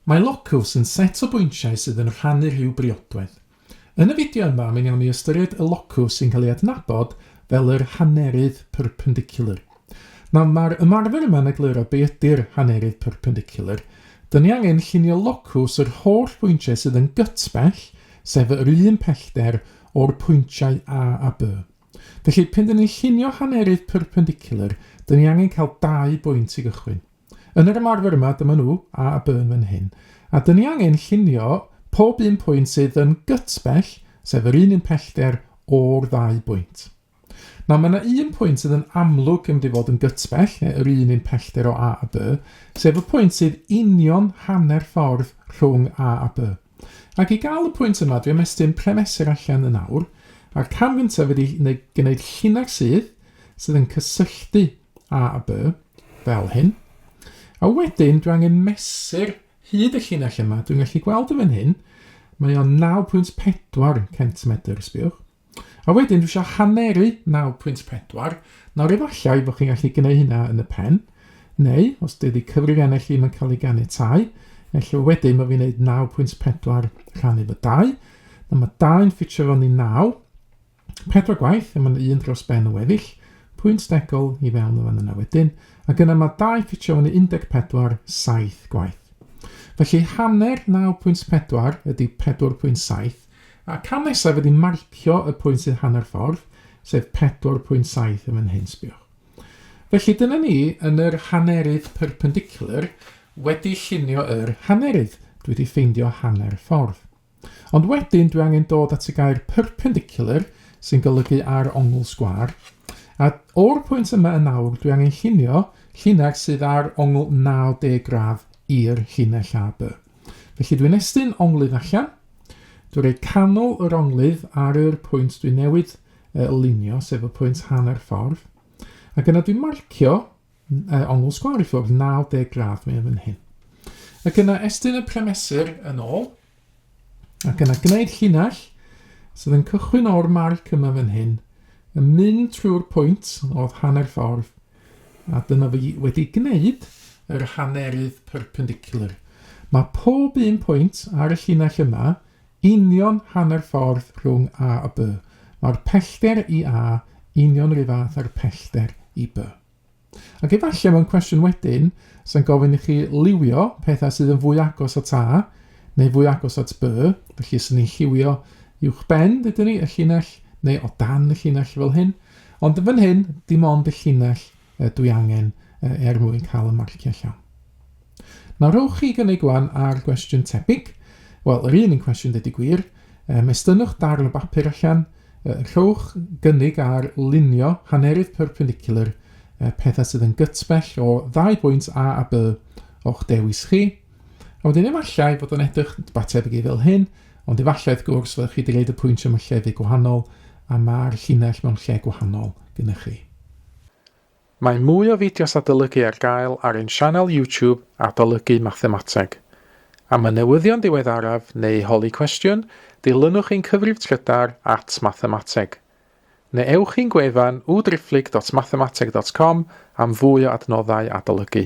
Mae Locus yn set o bwyntiau sydd yn rhannu rhyw briodwedd. Yn y fideo yma mi wnawn ni ystyried y locws sy'n cael ei adnabod fel yr hannerydd perpendicular. Nawr mae'r ymarfer yma'n egluro be ydy'r hannerydd perpendicular. Dyn ni angen llunio locws yr holl bwyntiau sydd yn gytbell, sef yr un pellter, o'r pwyntiau A a B. Felly, pan dyn ni'n llunio hannerydd perpendicular, dyn ni angen cael dau bwynt i gychwyn. Yn yr ymarfer yma, dyma nhw, A a B yn fan hyn. A dyn ni angen llunio pob un pwynt sydd yn gyt bell, sef yr un un pellter o'r ddau bwynt. Nawr, mae yna un pwynt sydd yn amlwg yn mynd i fod yn gyt bell, neu yr un un pellter o A a B, sef y pwynt sydd union hanner ffordd rhwng A a B. Ac i gael y pwynt yma, dwi am estyn premesur allan yn awr, a'r cam gyntaf ydy gwneud llinell sydd sydd yn cysylltu A a by, fel hyn. A wedyn, dwi angen mesur hyd y llinell yma. Dwi'n gallu gweld y fan hyn, mae o'n 9.4 centimedr, sbiwch. A wedyn, dwi eisiau haneru 9.4. Nawr, efallai bod chi'n gallu gwneud hynna yn y pen, neu, os dydy cyfrifiannell ddim yn cael ei ganiatau, efallai wedyn mae fi'n gwneud 9.4 rhannu fy 2. Nawr, mae 2 yn ffitio fewn i 9, Pedwar gwaith, a mae yna un dros ben y weddill, pwynt stegol i fewn o fan yna wedyn, ac yna mae dau ffitio fyny 14, saith gwaith. Felly hanner 9.4 ydy 4.7, a cam nesaf ydy marcio y pwynt sydd hanner ffordd, sef 4.7 yn fan hyn, sbiwch. Felly dyna ni yn yr hanerydd perpendicular wedi llunio yr hanerydd. Dwi wedi ffeindio hanner ffordd. Ond wedyn dwi angen dod at y gair perpendicular, sy'n golygu ar ongl sgwar, a o'r pwynt yma yn awr dwi angen llunio llinell sydd ar ongl 90 gradd i'r llinell AB. Felly dwi'n estyn onglydd allan, dwi'n rhoi canol yr onglydd ar yr pwynt dwi newid y lunio, sef y pwynt hanner ffordd, ac yna dwi'n marcio uh, ongl sgwar i ffwrdd 90 gradd mewn fan hyn. Ac yna estyn y premesur yn ôl, ac yna gwneud llinell sydd yn cychwyn o'r marc yma fan hyn, yn mynd trwy'r pwynt oedd hanner ffordd, a dyna fi wedi gwneud yr hannerydd perpendicular. Mae pob un pwynt ar y llinell yma union hanner ffordd rhwng A a B. Mae'r pellter i A union rhyw fath â'r pellter i B. Ac efallai mewn cwestiwn wedyn, sy'n gofyn i chi liwio pethau sydd yn fwy agos at A, neu fwy agos at B, felly sy'n ni'n lliwio uwch ben, dydyn ni, y llinell, neu o dan y llinell fel hyn. Ond yn fan hyn, dim ond y llinell dwi angen er mwyn cael y marciau llawn. Nawr rhowch chi gynnig wan ar gwestiwn tebyg, wel yr un un cwestiwn dydy gwir, um, estynnwch darn o bapur allan, uh, rhowch gynnig ar lunio hanerydd perpendicular uh, pethau sydd yn gytbell o ddau bwynt A a B o'ch dewis chi, a wedyn efallai fod o'n edrych ba tebyg i fel hyn, ond efallai wrth gwrs fyddwch chi wedi gwneud y pwynt yma llefydd gwahanol a mae'r llinell mewn lle gwahanol gyda chi. Mae mwy o fideos adolygu ar gael ar ein sianel YouTube Adolygu Mathemateg. Am y newyddion diweddaraf neu holi cwestiwn, dilynwch ein cyfrif trydar at Mathemateg. Neu ewch i'n gwefan www.driphlyg.mathemateg.com am fwy o adnoddau adolygu.